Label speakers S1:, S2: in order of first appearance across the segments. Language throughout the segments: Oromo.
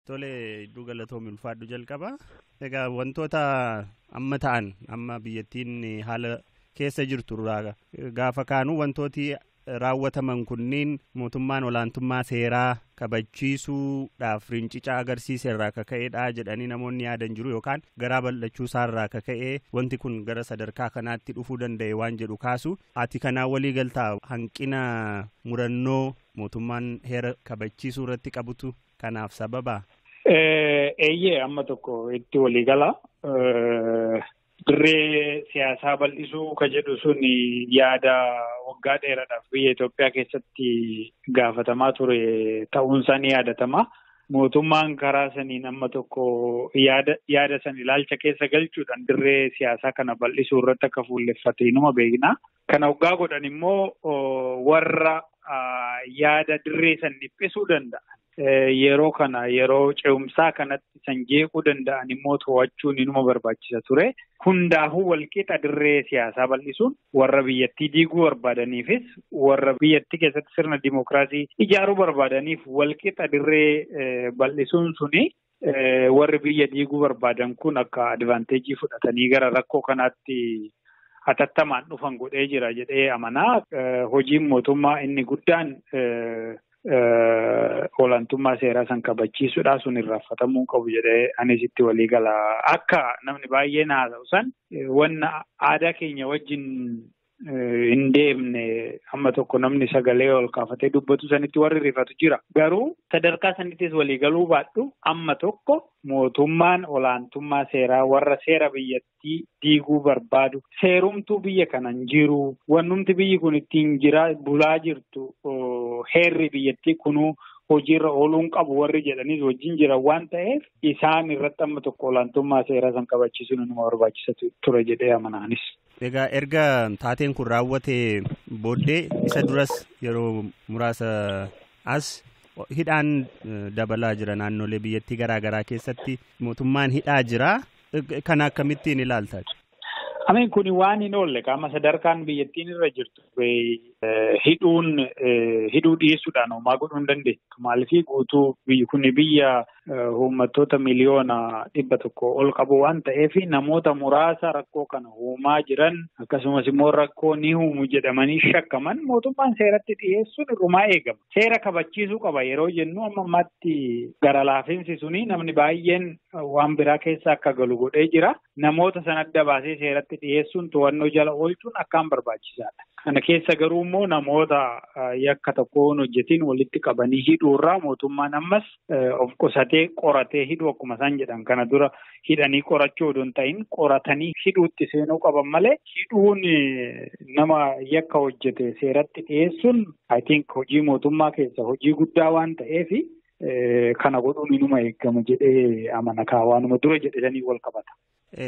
S1: Tole hedduu galatoomi ulfaadhu jalqaba. Egaa wantoota amma ta'an amma biyyattiin haala keessa jirtu irraa gaafa kaanu wantooti raawwataman kunniin mootummaan olaantummaa seeraa kabachiisuudhaaf rincica agarsiise irraa akka ka'edha jedhanii namoonni yaadan jiru yookaan garaa bal'achuu isaa irraa akka ka'e wanti kun gara sadarkaa kanaatti dhufuu danda'e waan jedhu kaasu ati kanaa walii galtaa hanqina murannoo mootummaan heera kabachiisuu irratti qabutu kanaaf sababa?
S2: Eeyyee amma tokko itti walii gala. Dirree siyaasaa bal'isuu ka jedhu sun yaada waggaa dheeraadhaaf biyya Itoophiyaa keessatti gaafatamaa ture ta'uunsaa ni yaadatama. Mootummaan karaa saniin amma tokko yaada yaada san ilaalcha keessa galchuudhaan dirree siyaasaa kana bal'isuu irratti akka fuulleffate inuma beekna. Kana hoggaa godhan immoo warra yaada dirree san dhiphisuu danda'an yeroo kana yeroo ce'umsaa kanatti san jeequu danda'an immoo to'achuun inuma barbaachisa ture. Hundaafuu walqixa dirree siyaasaa bal'isuun warra biyyattii diiguu barbaadaniifis warra biyyattii keessatti sirna dimookiraasii ijaaruu barbaadaniif walqixa dirree bal'isuun suni warri biyya diiguu barbaadan kun akka advaanteejii fudhatanii gara rakkoo kanaatti hatattamaan dhufan godhee jira jedhee amanaa. Hojiin mootummaa inni guddaan olaantummaa seeraa san kabachiisuudha sun irraanfatamuu qabu jedhee anis itti walii gala. Akka namni baay'een haasa'u san wanna aadaa keenya wajjin hin deemne amma tokko namni sagalee ol kaafatee dubbatu sanitti warri rifatu jira. Garuu sadarkaa sanittis waliigaluu baadhu amma tokko mootummaan olaantummaa seeraa warra seera biyyattii diiguu barbaadu seerumtuu biyya kana hin jiru wannumti biyyi kun ittiin jiraa bulaa jirtu heerri biyyattii kunuu hojiirra ooluu hin qabu warri jedhaniis wajjin jiran waan ta'eef isaan irratti amma tokko olaantummaa seeraa san kabachiisuun nama barbaachisa ture jedhee amanaanis. Egaa erga
S1: taateen kun raawwatee booddee isa duras yeroo muraasa as hidhaan dabalaa jira naannolee biyyattii garaa garaa keessatti mootummaan hidhaa jira. Kana akkamittiin ilaalta? Ameen kun
S2: waan hin oolle qaama sadarkaan biyyattiin irra jirtu hidhuun hidhuu dhiyeessuudhaan homaa godhuu hin dandeettu. Maaliif guutuu biyyi kun biyya uummattoota miliyoona dhibba tokko ol qabu waan ta'eef namoota muraasa rakkoo kana uumaa jiran akkasumas immoo rakkoo ni uumu jedhamanii shakkaman mootummaan seeratti dhiyeessuun irrumaa eegama. Seera kabachiisuu qaba yeroo jennu amma ammaatti gara laafinsi suni namni baay'een waan biraa keessa akka galu godhee jira. namoota san adda baasee seeratti dhiyeessuun to'annoo jala oolchuun akkaan barbaachisaadha. Kana keessa garuu immoo namoota yakka tokko hin hojjetiin walitti qabanii hidhuurraa mootummaan ammas of qusatee qoratee hidhuu akkuma isaan jedhan kana dura hidhanii qorachuu odoo hin ta'in qoratanii hidhuutti seenuu qaban malee hidhuun nama yakka hojjete seeratti dhiyeessuun I think hojii mootummaa keessa hojii guddaa waan ta'eef Kana godhuun inuma eegama jedhee amana kaa waanuma dura jedhanii wal qabata.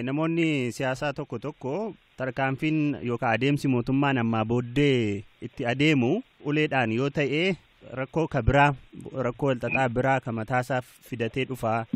S2: Namoonni
S1: siyaasaa tokko tokko tarkaanfiin yookaan adeemsi mootummaan ammaa booddee itti adeemu uleedhaan yoo ta'e rakkoo ka biraa rakkoo walxaxaa biraa ka mataasaaf fidatee dhufa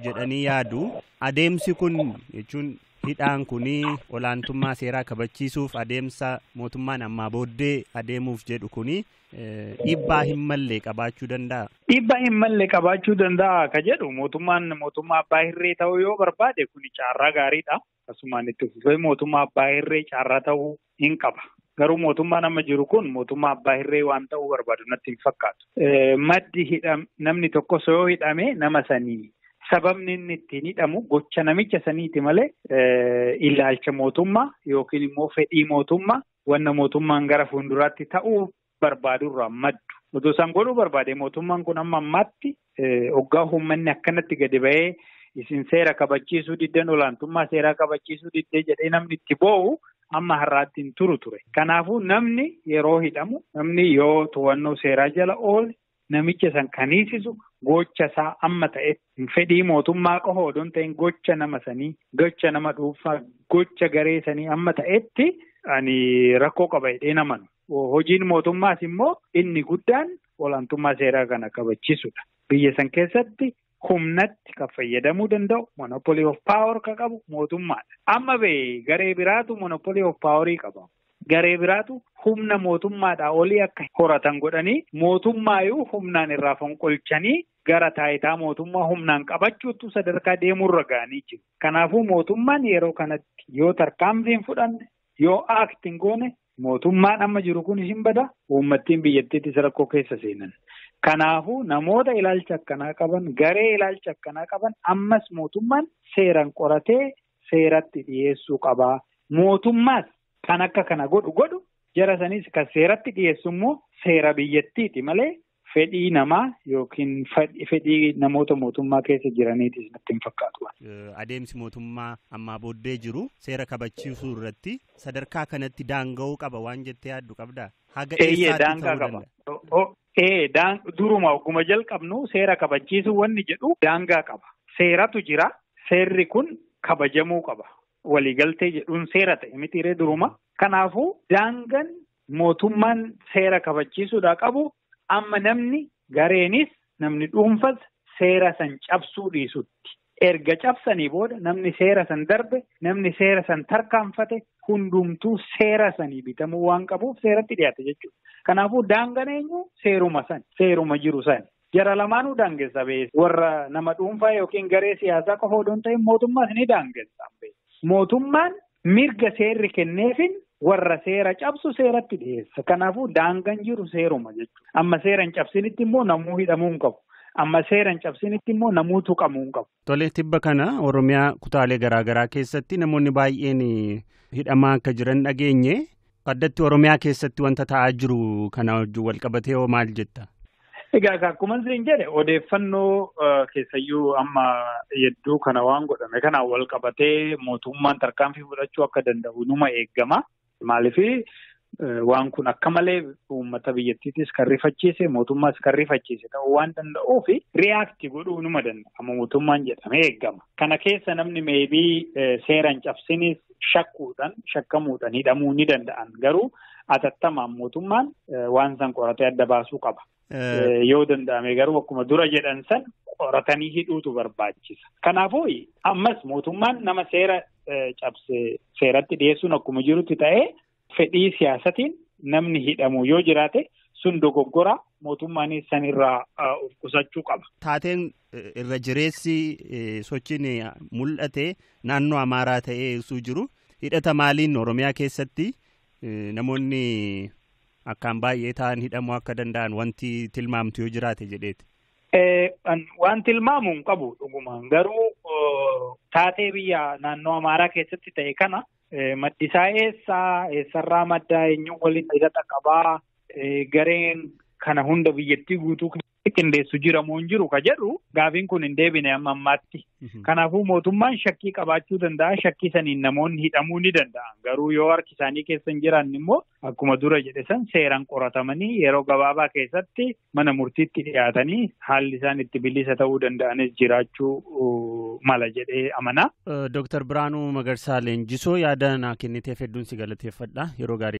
S1: jedhanii yaadu. Adeemsi kun jechuun hidhaan kun olaantummaa seeraa kabachiisuuf adeemsa mootummaan ammaa booddee adeemuuf jedhu kun Dhiibbaa hin malle qabaachuu danda'a. Dhiibbaa hin malle
S2: qabaachuu danda'a ka jedhu mootummaan mootummaa abbaa hirree ta'uu yoo barbaade kun carraa gaariidha. Akkasumaan itti fufee mootummaa abbaa hirree carraa ta'uu hin qaba. Garuu mootummaan amma jiru kun mootummaa abbaa hirree waan ta'uu barbaadu natti hin fakkaatu. Maddi hidham namni tokkos yoo hidhame nama sanii sababni inni ittiin hidhamu gocha namicha saniiti malee ilaalcha mootummaa yookiin immoo fedhii mootummaa wanna mootummaan gara fuulduraatti ta'uu barbaadurraa maddu. Otoo isaan godhuu barbaade mootummaan kun amma ammaatti hoggaa uummanni akkanatti gadi ba'ee isin seera kabachiisuu diddeen olaantummaa seeraa kabachiisuu diddee jedhee namni itti boo'u amma har'aatti hin turu ture. Kanaafuu namni yeroo hidhamu namni yoo to'annoo seeraa jala oole namicha san kan hiisisu gocha isaa amma ta'e fedhii mootummaa qofa odoo hin ta'in gocha nama sanii gocha nama dhuunfaa gocha garee sanii amma ta'etti ani rakkoo qaba jedhee namanu. Hojiin mootummaas immoo inni guddaan olaantummaa seeraa kana kabachisudha. Biyya san keessatti humnatti kan fayyadamuu danda'u monopoly of power kan qabu mootummaadha. Amma bee garee biraatu monopoly of power qaba. Garee biraatu humna mootummaadhaa olii akka horatan godhanii mootummaayyuu humnaan irraa fonqolchanii gara taayitaa mootummaa humnaan qabachuutu sadarkaa deemuurra ga'anii jiru. Kanaafuu mootummaan yeroo kanatti yoo tarkaanfii hin fudhanne yoo aakti hin goone Mootummaan amma jiru kun hin bada uummattiin biyyattiittis rakkoo keessa seenan. Kanaafuu namoota ilaalcha akkanaa qaban garee ilaalcha akkanaa qaban ammas mootummaan seeraan qoratee seeratti dhiyeessuu qaba. Mootummaas kan akka kana godhu godhu jara sanis kan seeratti dhiyeessu immoo seera biyyattiiti malee fedhii namaa yookiin fedhii namoota mootummaa keessa jiraniitis natti hin fakkaatu. Adeemsi
S1: mootummaa ammaa booddee jiru seera kabachiisuu irratti sadarkaa kanatti daanga'uu qaba waan jettee yaaddu qabdaa? Haga eessaatti
S2: ta'uu danda'a? Ee duruma ogguma jalqabnu seera kabachiisuu wanni jedhu daangaa qaba. Seeratu jira. Seerri kun kabajamuu qaba. waliigaltee jedhuun seera ta'e mitiiree duruma. Kanaafuu daangan mootummaan seera kabachiisuudhaa qabu amma namni gareenis namni dhuunfas seera san cabsuu dhiisutti. Erga cabsanii booda namni seera san darbe namni seera san tarkaanfate hundumtuu seera sanii bitamuu waan qabuuf seeratti dhiyaate jechuudha. Kanaafuu daangan eenyu seeruma san seeruma jiru sani. Jara lamaanuu daangessa bee. Warra nama dhuunfaa yookiin garee siyaasaa qofa odoo hin ta'in mootummaas ni daangessa. Mootummaan mirga seerri kenneefin warra seera cabsu seeratti dhiyeessa. Kanaafuu daangan jiru seeruma jechuudha. Amma seera hin cabsinitti immoo namuu hidhamuu hin qabu. Amma seera hin cabsinitti immoo namuu tuqamuu hin qabu. Tole tibba kana
S1: Oromiyaa kutaalee garaagaraa keessatti namoonni baay'een hidhamaa akka jiran dhageenye. Addatti Oromiyaa keessatti wanta ta'aa jiru kana wajjin wal qabatee hoo maal jetta? Egaa akkuma
S2: isin jedhe odeeffannoo keessayyuu amma hedduu kana waan godhame kanaan wal qabatee mootummaan tarkaanfii fudhachuu akka danda'u numa eegama. Maaliif waan kun akka malee uummata biyyattiitis kan rifachiise mootummaas kan rifachiise ta'uu waan danda'uuf riyaakti godhuu numa danda'a. Mootummaan jedhamee eegama. Kana keessa namni meebii seeraan cabsinis shakkuudhaan shakkamuudhaan hidhamuu ni danda'an garuu atattamaan mootummaan waan san qoratee adda baasuu qaba. Yoo danda'ame garuu akkuma dura jedhan san qoratanii hidhuutu barbaachisa. Kanaafuu ammas mootummaan nama seera cabse seeratti dhiyeessuun akkuma jirutti ta'ee fedhii siyaasatiin namni hidhamu yoo jiraate sun dogoggora mootummaanis san irraa of qusachuu qaba. Taateen
S1: irra jireessi sochiin mul'ate naannoo Amaaraa ta'ee ibsuu jiru hidhata maaliin Oromiyaa keessatti namoonni Akkaan baay'ee ta'an hidhamuu akka danda'an wanti tilmaamtu yoo jiraate jedheeti.
S2: Waan tilmaamu hin qabu dhugumaan garuu taatee biyya naannoo Amaaraa keessatti ta'e kana maddisaa eessaa eessarraa maddaa eenyuun waliin hidhata qabaa gareen kana hunda biyyattii guutuu qindeessu jira moo hin jiru ka jedhu gaafiin kun hin deebine amma ammaatti. Kanaafuu mootummaan shakkii qabaachuu danda'a shakkii saniin namoonni hidhamuu ni danda'a garuu yoo harki isaanii keessa hin jiraanne immoo akkuma dura jedhe san seeraan qoratamanii yeroo gabaabaa keessatti mana murtiitti dhiyaatanii haalli isaan itti bilisa ta'uu danda'anis jiraachuu mala jedhee amanaa. Dooktar
S1: Biraanuu Magarsaa Leenjisoo yaada
S2: naa
S1: kenniteef hedduun si galateeffadha yeroo gaarii.